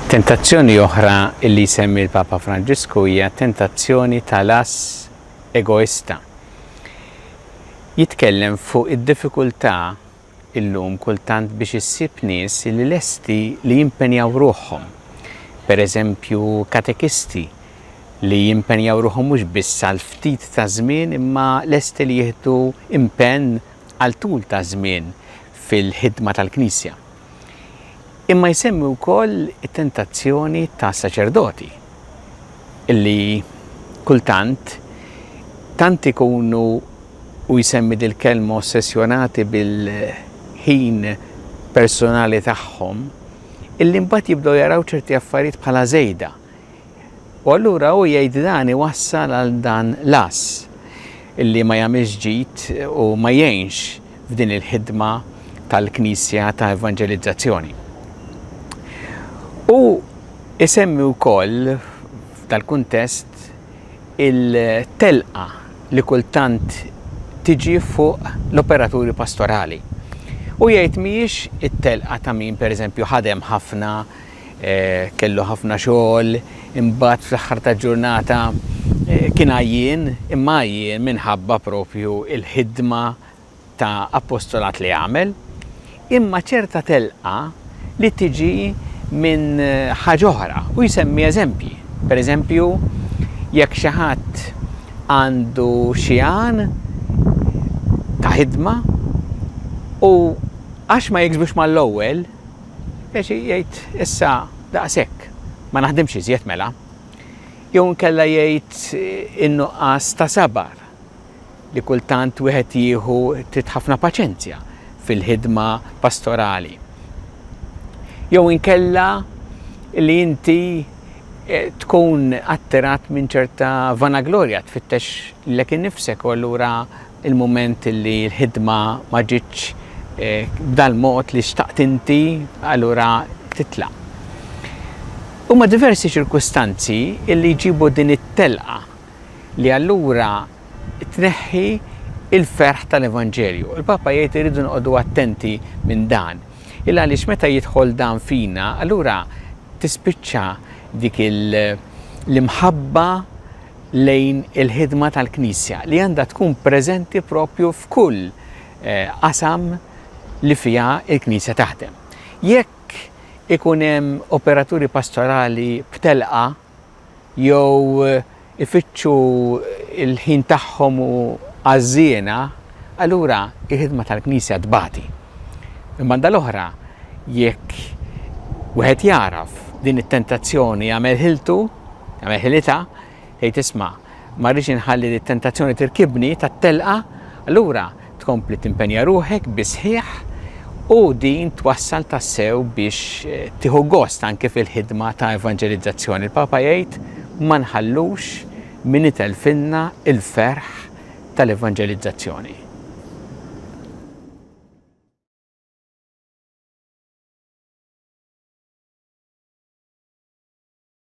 Tentazzjoni oħra li jsemmi l-Papa Franġisku hija tentazzjoni tal-as egoista. Jitkellem fuq id-diffikultà illum kultant biex issib nies li lesti li jimpenjaw ruħhom, pereżempju katekisti li jimpenjaw ruħhom mhux biss għal ftit ta' żmien imma lesti li jieħdu impenn għal tul ta' żmien fil-ħidma tal-Knisja. Imma jsemmi wkoll it-tentazzjoni ta' saċerdoti li kultant tant ikunu Hu jsemmi dil-kelma ossessjonati bil-ħin personali tagħhom, illi mbagħad jibdew jaraw ċerti affarijiet bħala żejda. U allura hu jgħid dan iwassal għal dan l-għażż, illi ma jagħmilx ġid u ma jgħinx f'din il-ħidma tal-Knisja ta' evanġelizzazzjoni. Hu jsemmi wkoll f'dal-kuntest il-telqa li kultant tiġi fuq l-operaturi pastorali. U jgħid mhijiex it-telqa ta' min pereżempju ħadem ħafna, eh, kellu ħafna xogħol, imbagħad fl-aħħar ta' ġurnata eh, kien għajjien, imma għajjien minħabba propju il-ħidma ta' appostolat li għamel, imma ċerta telqa li tiġi minn ħaġa oħra u jsemmi eżempji. Per eżempju, jekk xi ħadd għandu xi għan ta' ħidma u għax ma jiksbux mal-ewwel, jaxi jgħid issa daqshekk, ma naħdimx iżjed mela. Jew inkella jgħid in-nuqqas ta' sabar. li kultant wieħed jieħu trid ħafna paċenzja fil-ħidma pastorali. Jew inkella li inti eh, tkun attirat minn ċerta vanaglorja tfittex lek innifsek u allura il-moment li l-ħidma ma ġitx eh, b'dal mod li xtaqt inti allura titla. Huma diversi ċirkustanzi li jġibu din it-telqa li allura tneħħi il-ferħ tal-Evanġelju. Il-Papa jgħid irridu noqogħdu attenti minn dan. Il għaliex meta jidħol dan fina, allura tispiċċa dik l-imħabba lejn il-ħidma tal-Knisja li għandha tkun preżenti propju f'kull eh, qasam li fiha il-Knisja taħdem. Jekk ikun hemm operaturi pastorali b'telqa jew ifittxu l-ħin tagħhom u għaż-żiena, allura l-ħidma tal-Knisja tbati. Mill-banda l-oħra, jekk wieħed jagħraf din it-tentazzjoni jagħmel ħiltu, jagħmel ħilitha, jgħid isma' ma rridx inħalli li t-tentazzjoni tirkibni tat-telqa, allura tkompli timpenja ruħek bis-sħiħ u din twassal tassew biex tieħu gost anke fil-ħidma ta' evanġelizzazzjoni. Il-Papa jgħid, Ma nħallux min itelfilna l-ferħ tal-evanġelizzazzjoni.